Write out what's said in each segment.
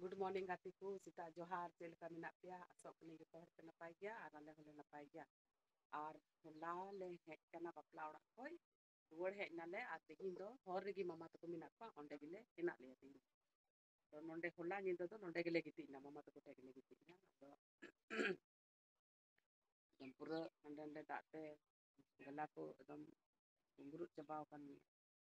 good morning ᱜᱟᱛᱮ ᱠᱚ ᱥᱮᱛᱟᱜ ᱡᱚᱦᱟᱨ ᱪᱮᱫ ᱞᱮᱠᱟ ᱢᱮᱱᱟᱜ ᱯᱮᱭᱟ ᱟᱥᱚᱜ ᱠᱟᱹᱱᱟᱹ ᱡᱚᱛᱚ ᱦᱚᱲ ᱯᱮ ᱱᱟᱯᱟᱭ ᱜᱮᱭᱟ ᱟᱨ ᱟᱞᱮ ᱦᱚᱸᱞᱮ ᱱᱟᱯᱟᱭ ᱱᱟᱯᱟᱭ ᱜᱮᱭᱟ ᱟᱨ ᱦᱚᱞᱟ ᱞᱮ ᱦᱮᱡ ᱠᱟᱱᱟ ᱵᱟᱯᱞᱟ ᱚᱲᱟᱜ ᱠᱷᱚᱡ ᱨᱩᱣᱟᱹᱲ ᱦᱮᱡ ᱮᱱᱟᱞᱮ ᱟᱨ ᱛᱮᱦᱤᱧ ᱫᱚ ᱦᱚᱨ ᱨᱮᱜᱮ ᱢᱟᱢᱟ ᱛᱟᱠᱚ ᱢᱮᱱᱟᱜ ᱠᱚᱣᱟ ᱚᱸᱰᱮ ᱜᱮᱞᱮ ᱦᱮᱱᱟᱜ ᱞᱮᱭᱟ ᱛᱮᱦᱤᱧ ᱟᱫᱚ ᱱᱚᱰᱮ ᱦᱚᱞᱟ ᱧᱤᱫᱟᱹ ᱫᱚ ᱱᱚᱰᱮ ᱜᱮᱞᱮ ᱜᱤᱛᱤᱡ ᱮᱱᱟ ᱢᱟᱢᱟ ᱛᱟᱠᱚ ᱴᱷᱮᱱ ᱜᱮᱞᱮ ᱜᱤᱛᱤᱡ ᱮᱱᱟ ᱟᱫᱚ ᱮᱠᱫᱚᱢ ᱯᱩᱨᱟᱹ ᱦᱟᱸᱰᱮ ᱱᱟᱰᱮ ᱫᱟᱜ ᱛᱮ ᱜᱟᱞᱟ ᱠᱚ ᱮᱠᱫᱚᱢ ᱪᱟᱵᱟᱣ ᱟᱠᱟᱱ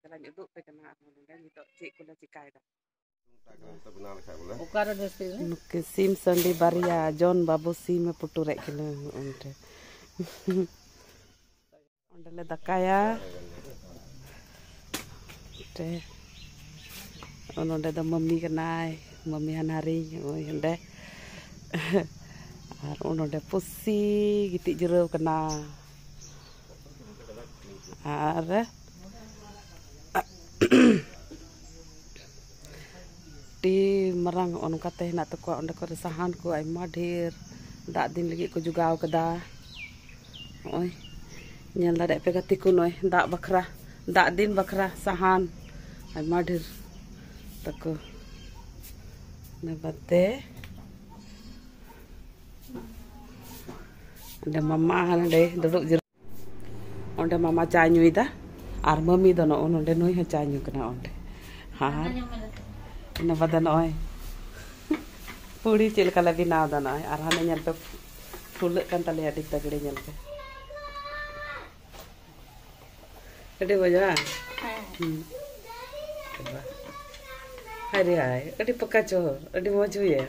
ᱪᱟᱞᱟᱜ ᱩᱫᱩᱜ ᱟᱯᱮ ᱠᱟᱱᱟ ᱟᱨᱦᱚᱸ ᱱᱚᱰᱮ ᱱᱤᱛᱚᱜ ᱪᱮᱫ ᱠᱚᱞᱮ ᱪᱮᱠᱟᱭᱮᱫᱟ ᱱᱩᱠᱤᱱ ᱥᱤᱢ ᱥᱟᱺᱰᱤ ᱵᱟᱨᱭᱟ ᱡᱚᱱ ᱵᱟᱹᱵᱩ ᱥᱤᱢᱮ ᱯᱩᱴᱩᱨᱮᱫ ᱠᱤᱱᱟᱹ ᱚᱸᱰᱮ ᱚᱸᱰᱮᱞᱮ ᱫᱟᱠᱟᱭᱟ ᱚᱸᱰᱮ ᱱᱚᱸᱰᱮ ᱫᱚ ᱢᱟᱹᱢᱤ ᱠᱟᱱᱟᱭ ᱢᱟᱹᱢᱤ ᱦᱟᱱᱦᱟᱨᱤ ᱱᱚᱜᱼᱚᱭ ᱚᱸᱰᱮ ᱟᱨ ᱱᱚᱸᱰᱮ ᱯᱩᱥᱤ ᱜᱤᱛᱤᱡ ᱡᱤᱨᱟᱹᱣ ᱠᱟᱱᱟ ᱟᱨ ᱟᱹᱰᱤ ᱢᱟᱨᱟᱝ ᱦᱚᱸᱜᱼᱚ ᱱᱚᱝᱠᱟ ᱛᱮ ᱦᱮᱱᱟᱜ ᱛᱟᱠᱚᱣᱟ ᱚᱸᱰᱮ ᱠᱚᱨᱮ ᱥᱟᱦᱟᱱ ᱠᱚ ᱟᱭᱢᱟ ᱰᱷᱮᱨ ᱫᱟᱜ ᱫᱤᱱ ᱞᱟᱹᱜᱤᱫ ᱠᱚ ᱡᱚᱜᱟᱣ ᱠᱟᱫᱟ ᱦᱚᱸᱜᱼᱚᱭ ᱧᱮᱞ ᱫᱟᱲᱮᱭᱟᱜ ᱯᱮ ᱜᱟᱛᱮ ᱠᱚ ᱱᱚᱜᱼᱚᱭ ᱫᱟᱜ ᱵᱟᱠᱷᱨᱟ ᱫᱟᱜ ᱫᱤᱱ ᱵᱟᱠᱷᱨᱟ ᱥᱟᱦᱟᱱ ᱟᱭᱢᱟ ᱰᱷᱮᱨ ᱛᱟᱠᱚ ᱚᱱᱟ ᱵᱟᱫᱮ ᱚᱸᱰᱮ ᱢᱟᱢᱟ ᱱᱚᱸᱰᱮ ᱫᱩᱲᱩᱵ ᱡᱤᱨᱟᱹᱣ ᱚᱸᱰᱮ ᱢᱟᱢᱟ ᱪᱟ ᱧᱩᱭᱮᱫᱟ ᱟᱨ ᱢᱟᱹᱢᱤ ᱫᱚ ᱱᱚᱜᱼᱚ ᱱᱚᱸᱰᱮ ᱱᱩᱭ ᱦᱚᱸ ᱪᱟ ᱧᱩ ᱠᱟᱱᱟ ᱚᱸᱰᱮ ᱟᱨ ᱤᱱᱟᱹ ᱵᱟᱫᱮ ᱱᱚᱜᱼᱚᱭ ᱯᱩᱲᱤ ᱪᱮᱫ ᱞᱮᱠᱟ ᱞᱮ ᱵᱮᱱᱟᱣ ᱮᱫᱟ ᱱᱚᱜᱼᱚᱭ ᱟᱨ ᱦᱟᱱᱮ ᱧᱮᱞ ᱯᱮ ᱯᱷᱩᱞᱟᱹᱜ ᱠᱟᱱ ᱛᱟᱞᱮᱭᱟ ᱟᱹᱰᱤ ᱛᱟᱜᱲᱮ ᱧᱮᱞ ᱯᱮ ᱟᱹᱰᱤ ᱢᱚᱡᱽ ᱵᱟᱝ ᱦᱟᱭ ᱨᱮ ᱦᱟᱭ ᱟᱹᱰᱤ ᱯᱟᱠᱟ ᱪᱚᱦᱚᱨ ᱟᱹᱰᱤ ᱢᱚᱡᱽ ᱦᱩᱭᱮᱱ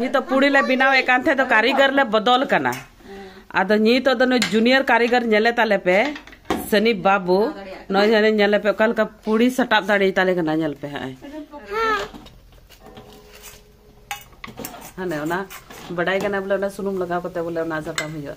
ᱱᱤᱛ ᱫᱚ ᱯᱩᱲᱤ ᱞᱮ ᱵᱮᱱᱟᱣ ᱮᱫ ᱠᱟᱱ ᱛᱟᱦᱮᱸ ᱫᱚ ᱠᱟᱹᱨᱤᱜᱚᱨ ᱞᱮ ᱵᱚᱫᱚᱞ ᱠᱟᱱᱟ ᱟᱫᱚ ᱱᱤᱛ ᱫᱚ ᱱᱩᱭ ᱡᱩᱱᱤᱭᱚᱨ ᱠᱟᱹᱨᱤᱜᱚᱨ ᱧᱮᱞᱮ ᱛᱟᱞᱮ ᱯᱮ ᱥᱟᱹᱱᱤᱯ ᱵᱟᱹᱵᱩ ᱱᱚᱭ ᱦᱟᱱᱮ ᱧᱮᱞᱮ ᱯᱮ ᱚᱠᱟ ᱞᱮᱠᱟ ᱯᱩᱲᱤ ᱥᱟᱴᱟᱵ ᱫᱟᱲᱮ ᱛᱟᱞᱮ ᱠᱟᱱᱟ ᱧᱮᱞ ᱯᱮ ᱦᱟᱸᱜ ᱦᱟᱱᱮ ᱚᱱᱟ ᱵᱟᱰᱟᱭ ᱠᱟᱱᱟ ᱵᱚᱞᱮ ᱚᱱᱟ ᱥᱩᱱᱩᱢ ᱞᱟᱜᱟᱣ ᱠᱟᱛᱮ ᱵᱚᱞᱮ ᱚᱱᱟ ᱥᱟᱴᱟᱵ ᱦᱩᱭᱩᱜᱼᱟ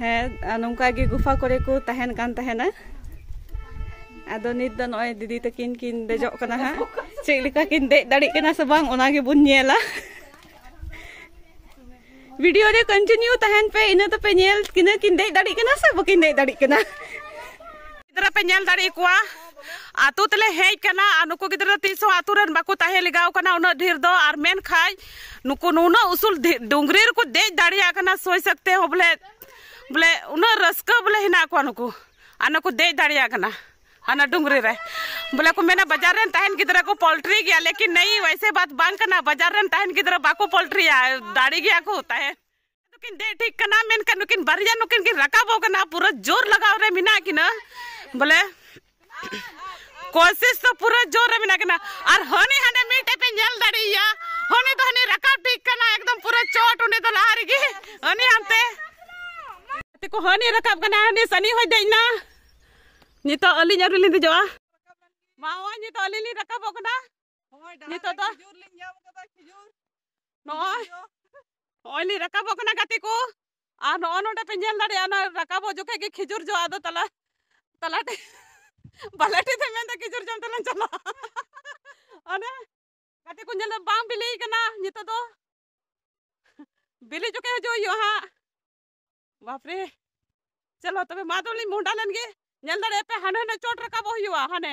ᱦᱮᱸ ᱱᱚᱝᱠᱟ ᱜᱮ ᱜᱩᱯᱷᱟ ᱠᱚᱨᱮ ᱠᱚ ᱛᱟᱦᱮᱱ ᱠᱟᱱ ᱛᱟᱦᱮᱱᱟ ᱟᱫᱚ ᱱᱤᱛ ᱫᱚ ᱱᱚᱜᱼᱚᱭ ᱫᱤᱫᱤ ᱛᱟᱹᱠᱤᱱ ᱠᱤᱱ ᱫᱮᱡᱚᱜ ᱠᱟᱱᱟ ᱦᱟᱸᱜ ᱪᱮᱫ ᱞᱮᱠᱟ ᱠᱤᱱ ᱫᱮᱡ ᱫᱟᱲᱮᱜ ᱠᱟᱱᱟ ᱥᱮ ᱵᱟᱝ ᱚᱱᱟ ᱜᱮᱵᱚᱱ ᱧᱮᱞᱟ ᱵᱷᱤᱰᱤᱭᱳ ᱨᱮ ᱠᱚᱱᱴᱤᱱᱤᱭᱩ ᱛᱟᱦᱮᱱ ᱯᱮ ᱤᱱᱟᱹ ᱛᱮᱯᱮ ᱧᱮᱞ ᱠᱤᱱᱟᱹ ᱠᱤᱱ ᱫᱮᱡ ᱫᱟᱲᱮᱜ ᱠᱟᱱᱟ ᱥᱮ ᱵᱟᱹᱠᱤᱱ ᱫᱮᱡ ᱫᱟᱲᱮᱜ ᱠᱟᱱᱟ ᱜᱤᱫᱽᱨᱟᱹ ᱯᱮ ᱧᱮᱞ ᱫᱟᱲᱮ ᱠᱚᱣᱟ ᱟᱛᱳ ᱛᱮᱞᱮ ᱦᱮᱡ ᱠᱟᱱᱟ ᱟᱨ ᱱᱩᱠᱩ ᱜᱤᱫᱽᱨᱟᱹ ᱛᱤᱥ ᱦᱚᱸ ᱟᱛᱳ ᱨᱮᱱ ᱵᱟᱠᱚ ᱛᱟᱦᱮᱸ ᱞᱮᱜᱟᱣ ᱠᱟᱱᱟ ᱩᱱᱟᱹᱜ ᱰᱷᱮᱨ ᱫᱚ ᱟᱨ ᱢᱮᱱᱠᱷᱟᱡ ᱱᱩᱠᱩ ᱱᱩᱱᱟᱹᱜ ᱩᱥᱩᱞ ᱰᱩᱝᱨᱤ ᱨᱮᱠᱚ ᱫᱮᱡ ᱫᱟᱲᱮᱭᱟᱜ ᱠᱟᱱᱟ ᱥᱚᱭ ᱥᱟᱠᱛᱮ ᱦᱚᱸ ᱵᱚᱞᱮ ᱵᱚᱞᱮ ᱩᱱᱟᱹᱜ ᱨᱟᱹᱥᱠᱟᱹ ᱵᱚᱞᱮ ᱦᱮᱱᱟᱜ ᱠᱚᱣᱟ ᱱᱩᱠᱩ ᱟᱨ ᱱᱩᱠᱩ ᱫᱮᱡ ᱫᱟᱲᱮᱭᱟᱜ ᱠᱟᱱᱟ ᱟᱱᱟ ᱰᱩᱝᱨᱤ ᱨᱮ ᱵᱚᱞᱮ ᱠᱚ ᱢᱮᱱᱟ ᱵᱟᱡᱟᱨ ᱨᱮᱱ ᱛᱟᱦᱮᱱ ᱜᱤᱫᱽᱨᱟᱹ ᱠᱚ ᱯᱚᱞᱴᱨᱤ ᱜᱮᱭᱟ ᱞᱮᱠᱤᱱ ᱱᱟᱹᱭ ᱣᱟᱭᱥᱮ ᱵᱟᱛ ᱵᱟᱝ ᱠᱟᱱᱟ ᱵᱟᱡᱟᱨ ᱨᱮᱱ ᱛᱟᱦᱮᱱ ᱜᱤᱫᱽᱨᱟᱹ ᱵᱟᱠᱚ ᱯᱚᱞᱴᱨᱤᱭᱟ ᱫᱟᱲᱮ ᱜᱮᱭᱟ ᱠᱚ ᱛᱟᱦᱮᱱ ᱱᱩᱠᱤᱱ ᱫᱮᱡ ᱴᱷᱤᱠ ᱠᱟᱱᱟ ᱢᱮᱱᱠᱷᱟᱱ ᱱᱩᱠᱤᱱ ᱵᱟᱨᱭᱟ ᱱᱩᱠᱤᱱ ᱠᱤᱱ ᱨᱟᱠᱟᱵᱚᱜ ᱠᱟᱱᱟ ᱯᱩᱨᱟᱹ ᱡᱳᱨ ᱞᱟᱜᱟᱣ ᱨᱮ ᱢᱮᱱᱟᱜ ᱠᱤᱱᱟ ᱵᱚᱞᱮ ᱠᱚᱥᱤᱥ ᱫᱚ ᱯᱩᱨᱟᱹ ᱡᱳᱨ ᱨᱮ ᱢᱮᱱᱟᱜ ᱠᱤᱱᱟ ᱟᱨ ᱦᱟᱹᱱᱤ ᱦᱟᱸᱰᱮ ᱢᱤᱫᱴᱮᱡ ᱯᱮ ᱧᱮᱞ ᱫᱟᱲᱮᱭᱟ ᱦᱟᱹᱱᱤ ᱫᱚ ᱦᱟᱹᱱᱤ ᱨᱟᱠᱟᱵ ᱴᱷᱤᱠ ᱠᱟᱱᱟ ᱮᱠᱫᱚᱢ ᱯᱩᱨᱟᱹ ᱪᱚᱴ ᱚᱸᱰᱮ ᱫᱚ ᱞᱟᱦᱟ ᱨᱮᱜᱮ ᱦᱟᱹᱱᱤ ᱦᱟᱱᱛᱮ ᱜᱟᱛᱮ ᱠᱚ ᱦᱟᱹᱱᱤ ᱨᱟᱠᱟᱵ ᱠᱟᱱᱟ ᱦᱟᱹᱱᱤ ᱥᱟᱹᱱᱤ ᱦᱚᱸᱭ ᱫᱮᱡ ᱮᱱᱟ ᱱᱤᱛᱚᱜ ᱟᱹᱞᱤᱧ ᱟᱹᱣᱨᱤ ᱞᱤᱧ ᱫᱮᱡᱚᱜᱼᱟ ᱢᱟ ᱦᱚᱸᱜᱼᱚᱭ ᱱᱤᱛᱚᱜ ᱟᱹᱞᱤᱧ ᱞᱤᱧ ᱨᱟᱠᱟᱵᱚᱜ ᱠᱟᱱᱟ ᱱᱤᱛᱚᱜ ᱫᱚ ᱱᱚᱜᱼᱚᱭ ᱱᱚᱜᱼᱚᱭ ᱞᱤᱧ ᱨᱟᱠᱟᱵᱚᱜ ᱠᱟᱱᱟ ᱜᱟᱛᱮ ᱠᱚ ᱟᱨ ᱱᱚᱜᱼᱚ ᱱᱚᱰᱮ ᱯᱮ ᱧᱮᱞ ᱫᱟᱲᱮᱭᱟᱜᱼᱟ ᱚᱱᱟ ᱨᱟᱠᱟᱵᱚᱜ ᱡᱚᱠᱷᱮᱡ ᱜᱮ ᱠᱷᱤᱡᱩᱨ ᱡᱚ ᱟᱫᱚ ᱛᱟᱞᱟ ᱛᱟᱞᱟ ᱴᱷᱮᱡ ᱵᱟᱞᱮ ᱴᱷᱮᱡ ᱫᱚ ᱢᱮᱱᱫᱟ ᱠᱷᱤᱡᱩᱨ ᱡᱚᱢ ᱛᱮᱞᱟᱝ ᱪᱟᱞᱟᱜᱼᱟ ᱚᱱᱮ ᱜᱟᱛᱮ ᱠᱚ ᱧᱮᱞ ᱫᱟ ᱵᱟᱝ ᱵᱤᱞᱤᱭ ᱠᱟᱱᱟ ᱱᱤᱛᱚᱜ ᱫᱚ ᱵᱤᱞᱤ ᱡᱚᱠᱷᱮᱡ ᱦᱤᱡᱩᱜ ᱦᱩᱭᱩᱜᱼᱟ ᱦᱟᱸᱜ ᱵᱟᱯᱨᱮ ᱪᱚᱞᱚ ᱛᱚᱵᱮ ᱢᱟ ᱛᱚᱵᱮ ᱞᱤᱧ ᱢᱚᱦᱰᱟ ᱞᱮᱱ ᱜᱮ ᱧᱮᱞ ᱫᱟᱲᱮᱭᱟᱜᱼᱟ ᱯᱮ ᱦᱟᱱᱮ ᱦᱟᱱᱮ ᱪᱚᱴ ᱨᱟᱠᱟᱵᱚᱜ ᱦᱩᱭᱩᱜᱼᱟ ᱦᱟᱱᱮ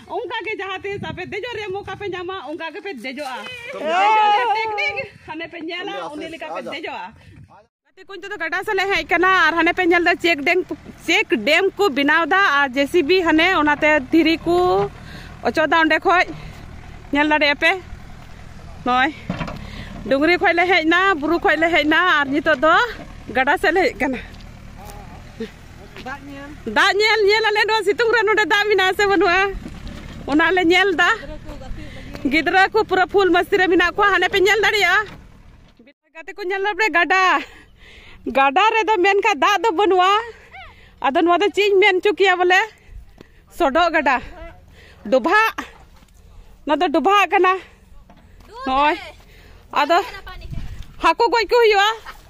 ᱚᱱᱠᱟ ᱜᱮ ᱡᱟᱦᱟᱸ ᱛᱤᱥ ᱟᱯᱮ ᱫᱮᱡᱚᱜ ᱨᱮᱭᱟᱜ ᱢᱚᱠᱟ ᱯᱮ ᱧᱟᱢᱟ ᱚᱱᱠᱟ ᱜᱮ ᱯᱮ ᱫᱮᱡᱚᱜᱼᱟ ᱴᱮᱠᱱᱤᱠ ᱦᱟᱱᱮ ᱯᱮ ᱧᱮᱞᱟ ᱩᱱᱤ ᱞᱮᱠᱟ ᱯᱮ ᱫᱮᱡᱚᱜᱼᱟ ᱜᱟᱛᱮ ᱠᱚ ᱱᱤᱛᱚᱜ ᱫᱚ ᱜᱟᱰᱟ ᱥᱮᱫ ᱞᱮ ᱦᱮᱡ ᱠᱟᱱᱟ ᱟᱨ ᱦᱟᱱᱮ ᱯᱮ ᱧᱮᱞ ᱫᱟ ᱪᱮᱠ ᱰᱮᱢ ᱪᱮᱠ ᱰᱮᱢ ᱠᱚ ᱵᱮᱱᱟᱣ ᱫᱟ ᱟᱨ ᱡᱮᱥᱤᱵᱤ ᱦᱟᱱᱮ ᱚᱱᱟᱛᱮ ᱫᱷᱤᱨᱤ ᱠᱚ ᱚᱪᱚᱜ ᱫᱟ ᱚᱸᱰᱮ ᱠᱷᱚᱡ ᱧᱮᱞ ᱫᱟᱲᱮᱭᱟᱜ ᱯᱮ ᱱᱚᱜᱼᱚᱭ ᱰᱩᱝᱨᱤ ᱠᱷᱚᱡ ᱞᱮ ᱦᱮᱡ ᱱᱟ ᱵᱩᱨᱩ ᱠᱷᱚᱡ ᱞᱮ ᱦᱮᱡ ᱱᱟ ᱟᱨ ᱱᱤᱛᱚᱜ ᱫᱚ ᱜᱟᱰᱟ ᱥᱮᱫ ᱞᱮ ᱦᱮᱡ ᱠᱟᱱᱟ ᱫᱟᱜ ᱧᱮᱞ ᱫᱟᱜ ᱧᱮᱞ ᱧᱮᱞ ᱟᱞᱮ ᱱᱚᱣᱟ ᱥᱤᱛᱩᱝ ᱨᱮ ᱱᱚᱰᱮ ᱫᱟᱜ ᱢᱮᱱᱟᱜᱼᱟ ᱥᱮ ᱵᱟᱹᱱᱩᱜᱼᱟ ᱚᱱᱟ ᱞᱮ ᱧᱮᱞ ᱫᱟ ᱜᱤᱫᱽᱨᱟᱹ ᱠᱚ ᱯᱩᱨᱟᱹ ᱯᱷᱩᱞ ᱢᱟᱥᱛᱤ ᱨᱮ ᱢᱮᱱᱟᱜ ᱠᱚᱣᱟ ᱦᱟᱱᱮ ᱯᱮ ᱧᱮᱞ ᱫᱟᱲᱮᱭᱟᱜᱼᱟ ᱜᱟᱛᱮ ᱠᱚ ᱧᱮᱞ ᱞᱟᱵᱲᱮ ᱜᱟᱰᱟ ᱜᱟᱰᱟ ᱨᱮᱫᱚ ᱢᱮᱱᱠᱷᱟᱱ ᱫᱟᱜ ᱫᱚ ᱵᱟᱹᱱᱩᱜᱼᱟ ᱟᱫᱚ ᱱᱚᱣᱟ ᱫᱚ ᱪᱮᱫ ᱤᱧ ᱢᱮᱱ ᱦᱚᱪᱚ ᱠᱮᱭᱟ ᱵᱚᱞᱮ ᱥᱚᱰᱚᱜ ᱜᱟᱰᱟ ᱰᱚᱵᱷᱟᱜ ᱱᱚᱣᱟ ᱫᱚ ᱰᱚᱵᱷᱟᱜ ᱠᱟᱱᱟ ᱱᱚᱜᱼᱚᱭ ᱟᱫᱚ ᱦᱟᱹᱠᱩ ᱜᱚᱡ ᱠᱚ ᱦᱩᱭᱩᱜᱼᱟ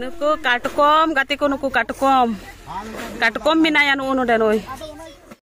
ᱱᱩᱠᱩ ᱠᱟᱴᱠᱚᱢ ᱜᱟᱛᱮ ᱠᱚ ᱱᱩᱠᱩ ᱠᱟᱴᱠᱚᱢ ᱠᱟᱴᱠᱚᱢ ᱢᱮᱱᱟᱭᱟ ᱱᱩᱜᱼᱩ ᱱᱚᱰᱮ ᱱᱩᱭ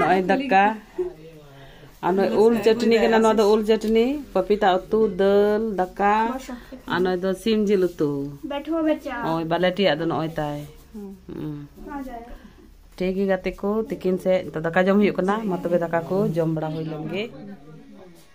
ᱱᱚᱜᱼᱚᱭ ᱫᱟᱠᱟ ᱟᱨ ᱱᱚᱜᱼᱚᱭ ᱩᱞ ᱪᱟᱹᱴᱱᱤ ᱠᱟᱱᱟ ᱱᱚᱣᱟ ᱫᱚ ᱩᱞ ᱪᱟᱹᱴᱱᱤ ᱯᱟᱯᱤᱛᱟ ᱩᱛᱩ ᱫᱟᱹᱞ ᱫᱟᱠᱟ ᱟᱨ ᱱᱚᱜᱼᱚᱭ ᱫᱚ ᱥᱤᱢ ᱡᱤᱞ ᱩᱛᱩ ᱱᱚᱜᱼᱚᱭ ᱵᱟᱞᱮᱴᱤᱭᱟᱜ ᱫᱚ ᱱᱚᱜᱼᱚᱭ ᱛᱟᱭ ᱴᱷᱤᱠ ᱜᱮ ᱜᱟᱛᱮ ᱠᱚ ᱛᱤᱠᱤᱱ ᱥᱮᱫ ᱫᱟᱠᱟ ᱡᱚᱢ ᱦᱩᱭᱩᱜ ᱠᱟᱱᱟ ᱢᱟ ᱛᱚᱵᱮ ᱫᱟᱠᱟ ᱠᱚ ᱡᱚᱢ ᱵᱟᱲᱟ ᱦᱩᱭ ᱞᱮᱱ ᱜᱮ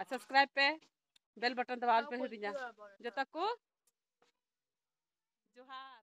ᱟᱨ ᱥᱟᱥᱠᱨᱟᱭᱤᱵ ᱯᱮ ᱵᱮᱞ ᱵᱟᱴᱚᱱ ᱫᱚᱵᱟᱭ ᱟᱞᱚᱯᱮ ᱦᱤᱲᱤᱧᱟ ᱡᱚᱛᱚ ᱠᱚ ᱡᱚᱦᱟᱨ